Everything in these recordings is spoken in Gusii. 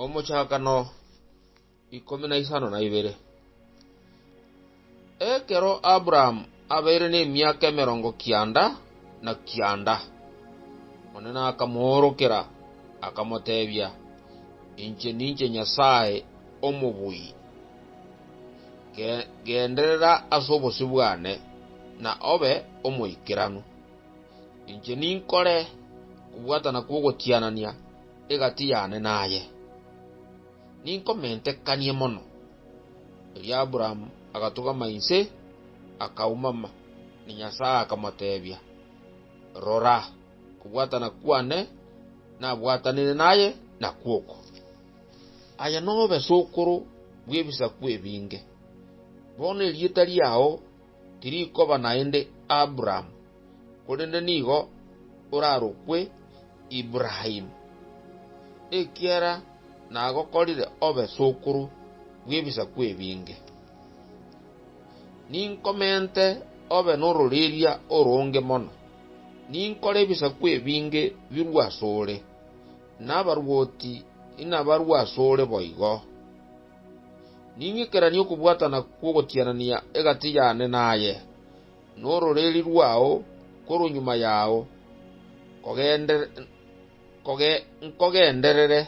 Omochakano ikomi na isano na ibere. Ekero Abrahamu abeire nemiaka emerongo kianda na kianda, Omonene akamoorokera, akamoteebia, Inche ninche Nyasae omobui. Ge- Genderera ase obosio bwane, na obe omoikeranu. inche ninkore okobwatana kw'ogotianania egati yane naye, ninkomentekanie mono. Erio Aburaamu agatugama inse, akaumama, na Nyasae akamoteebia, Rora, okobwatana kwane nabwatanire naye nakwo oko, aye nobe sokoro bw'ebisaku ebinge. Bono erieta riao Tirikoba naende Abrahamu, korende nigo orarokwe Ibrahimu, ekiagera nagokorire obe sokoro bw'ebisaku ebinge. Ninkomente obe nororeria oronge mono, ninkore ebisaku ebinge birue asore, na abarwoti inabarue asore boigo. Ning'ikeranie okobwatana kw'ogotianania egati yane naye, na ororeeri rwao korwa nyuma yao, nkogenderere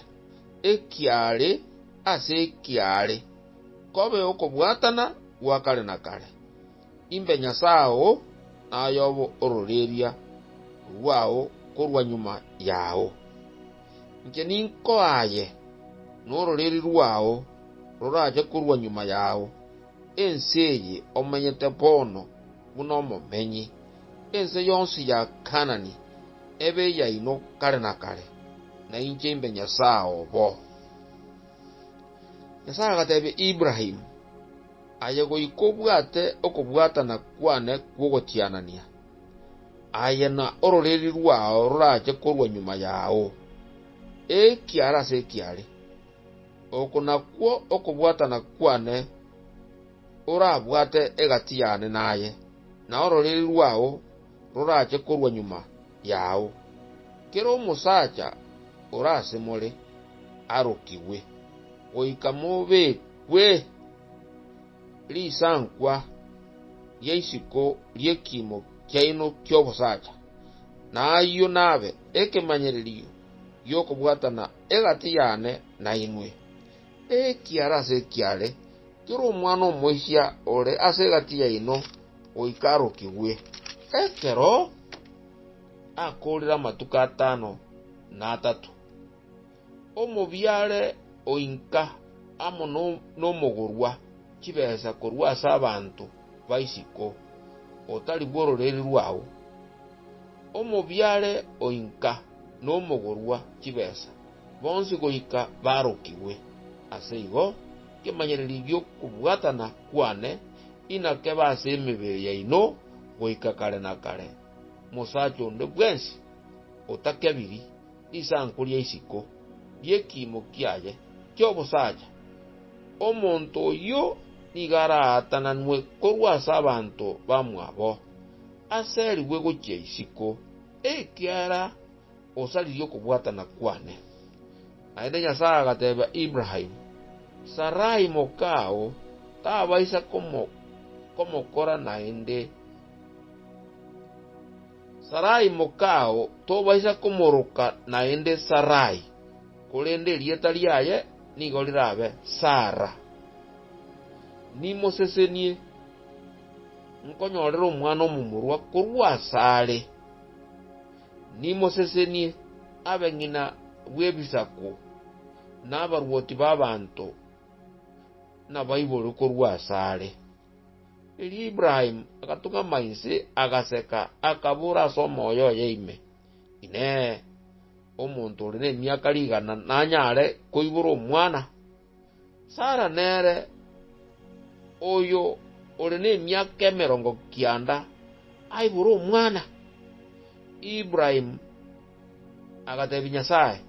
ekiaare ase ekiaare, kobe okobwatana gwa kare na kare. Imbe Nyasae oo, nayobo ororeria rwao korwa nyuma yao. Inche ninkoaye, nororeria rwao rorache korwa nyuma yao, ense eye omenyete bono buna omomenyi, ense yonsi ya Kaanani ebe eyaino kare na kare, na inche imbe Nyasae obo. Nyasae agateebia Ibrahimu, Aye goika obwate okobwatana kwane kw'ogotianania, aye na ororeria rwao rorache korwa nyuma yao, ekiara ase ekiare. Oko nakwo okobwatana kwane orabwate egati yane naye, na ororeria rwao rorache korwa nyuma yao. Kera omosacha ore ase more arokigwe, goika mobekwe risankwa ria isiko ri'ekiimo kiaino ki'obosacha, na ayio nabe ekemanyererio gi'okobwatana egati yane nainwe. Ekiara ase ekiare, kera omwana omoisia ore ase egati yaino goika arokigwe. Ekero akoorire amatuko atano na atato, omobiare oinka amo nomogorwa chibesa korwa ase abanto b'isiko, otari bw'ororeri rwao. Omobiare oinka nomogorwa chibesa, bonsi goika barokigwe. Ase igo, nkemanyereria gi'okobwatana kwane. inakebe ase emebere yaino goika kare na kare, mosacha onde bwensi otakebiri risanku ria isiko ri'ekiimo kiaye ki'obosacha, omonto oyio nigo araatananwe korwa ase abanto bamwabo, aserigwe gochia isiko, ekiagera Osaririe okobwatana kwane. Naende Nyasae agateebia Ibrahimu, Sarai mokao tabaisa komokora naende, Sarai mokao tobaisa komoroka naende Sarai, korende erieta riaye nigo rirabe Sara. Nimosesenie, nkonyorere omwana omomorua korwa asare. Nimosesenie abang'ina bw'ebisaku, na abarwoti b'abanto nabaiborwe korwa asare. Erio Ibrahimu agatung'ama inse, agaseka, akabora ase omoyo oye ime, Inee! Omonto ore nemiaka rigana nanyare koibora omwana? Sara nere oyo ore nemiaka emerongo kianda aibora omwana. Ibrahimu agatebia Nyasae,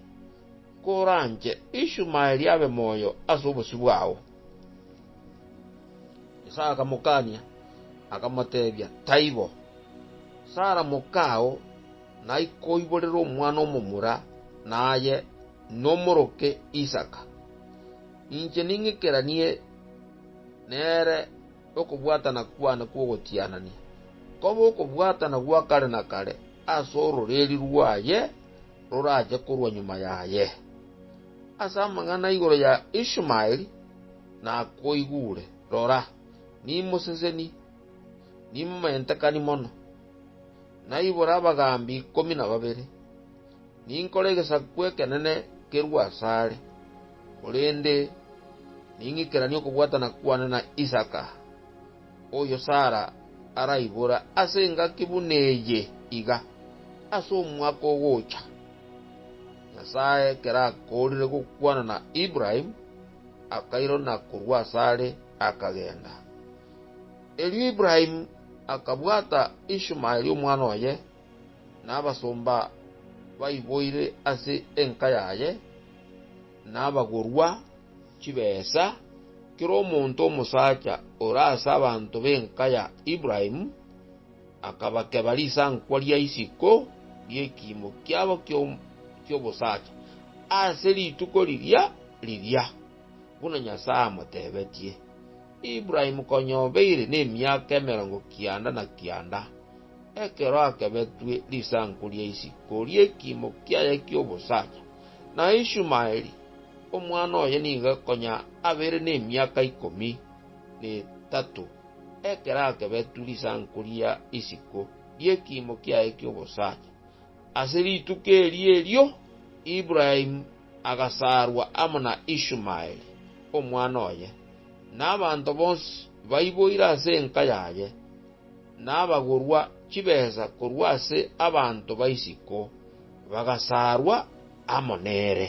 Koranche Ishumaeli abe moyo ase obosio bwao. Nyasae akamokania, akamotebia, Taibo. Sara mokao naikoiborere omwana omomura, naye nomoroke Isaka. Inche ning'ikeranie nere nokobwatana kwane kw'ogotianania, kobe okobwatana gwa kare na kare ase ororeeria rwaye rorache korwa nyuma yaye. Ase amang'ana igoro ya Ishmaeli nakoigure, rora, nimoseseni, nimomentekani mono, naibore abagaambi ikomi na babere, Ninkore egesaku ekenene kerue asare, korende ning'ikeranie okobwatana kwane na Isaka, oyo Sara araibore ase engaki buna eye iga, ase omwaka ogocha. Nyasae ekero akoorire gokwana na Ibrahimu, akairana korwa asare, akagenda. Erio Ibrahimu akabwata Ishumaeli omwana oye, na abasomba baiboire ase enka yaye, na abagorwa chibesa, kera omonto omosacha ore ase abanto b'enka ya Ibrahimu, akabakeba risankwa ria isiko ri'ekiimo kiabo ki'obosacha ase rituko riria riria, buna Nyasae amotebetie. Ibrahimu konya obeire nemiaka emerongo kianda na kianda, Ekero akebetwe risanku ria isiko ri'ekiimo kiaye ki'obosacha, na Ishumaeli, omwana oye nigo konya abeire nemiaka ikomi netato ekero akebetwe risanku ria isiko ri'ekiimo kiaye ki'obosacha. Ase rituko erio erio Ibrahimu agasaarwa amo na Ishumaeli, omwana oye, na abanto bonsi baiboire ase enka yaye. nabagorwa chibesa korwa ase abanto ba isiko, bagasaarwa amo nere.